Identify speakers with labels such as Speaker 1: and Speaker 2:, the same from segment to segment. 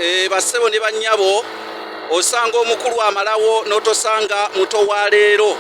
Speaker 1: Eh, bassebo ne bannyabo osanga omukulu amalawo n'otosanga muto wa leero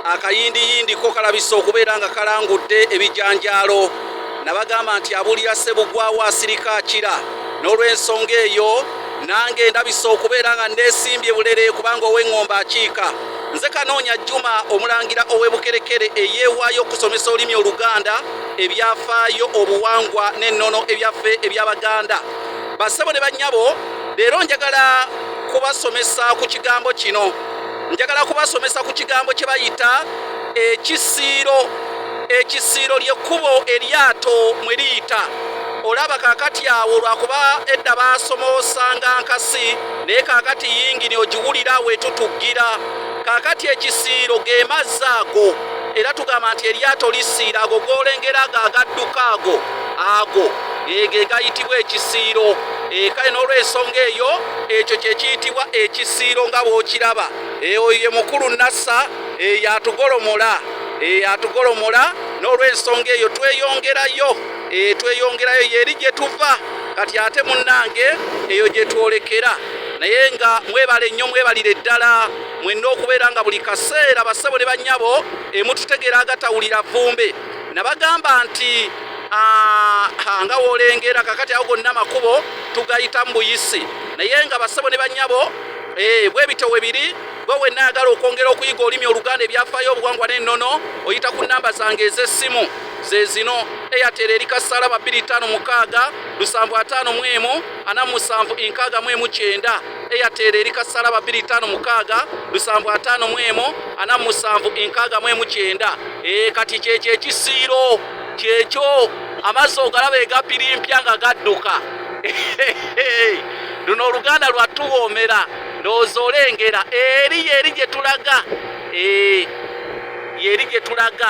Speaker 1: akayindiyindi ko kalabisa okubeera nga kalangudde ebijanjaalo nabagamba nti abulira ssebugwawo asirika akira n'olw'ensonga eyo nange ndabisa okubeera nga nneesimbye bulere kubanga ow'eŋŋomba akiika nze kanoonya juma omulangira ow'ebukerekere eyeewaayo okusomesa olulimi oluganda ebyafaayo obuwangwa n'ennono ebyaffe eby'Abaganda. Bassebo ne bannyabo, leero njagala kubasomesa ku kigambo kino. Njagala kubasomesa ku kigambo kye bayita ekisiiro. Ekisiiro ly'ekkubo eryato mwe liyita. Olaba kaakati awo lwakuba edda baasomoosanga nkasi, naye kaakati yingini ogiwulira wetutuggira. Kaakati ekisiiro ge mazzi ago. era tugamba nti eryato lisiira ago golengera ago agadduka ago ago ege gayitibwa ekisiiro eh, kale n'olwensonga eyo ekyo kyekiyitibwa ekisiiro nga bw'okiraba eh, oyo ye mukulu nassa eh, yatugolomola yatugolomola n'olwensonga eyo tweyongerayo tweyongerayo yeri gye tuva kati ate munnange eyo gye twolekera naye nga mwebale nnyo mwebalire ddala mwenna okubeera nga buli kaseera bassebo ne bannyabo emututegeera agatawulira vumbe nabagamba nti nga wolengera kakati awo gonna amakubo tugayitamu buyisi naye nga bassebo ne bannyabo eh, bwebityo we biri gwe wenna ayagala okwongera okuyiga olulimi oluganda ebyafaayo obuwangwa n'ennono oyita ku nnamba zange ez'essimu ze zino eyatera eri kasalaba 25 75 47 enkaaga mu emu kyenda Airtel eri kasala babiri tano mukaaga lusanvu ataano mu emu ana musanvu enkaaga mu emu kyenda ee eh, kati kyekyo ekisiiro kyekyo amazzi ogalaba egapirimpya nga gadduka luno oluganda lwatuwoomera ndowooza olengera eri yeri gye tulaga eh, yeri gye tulaga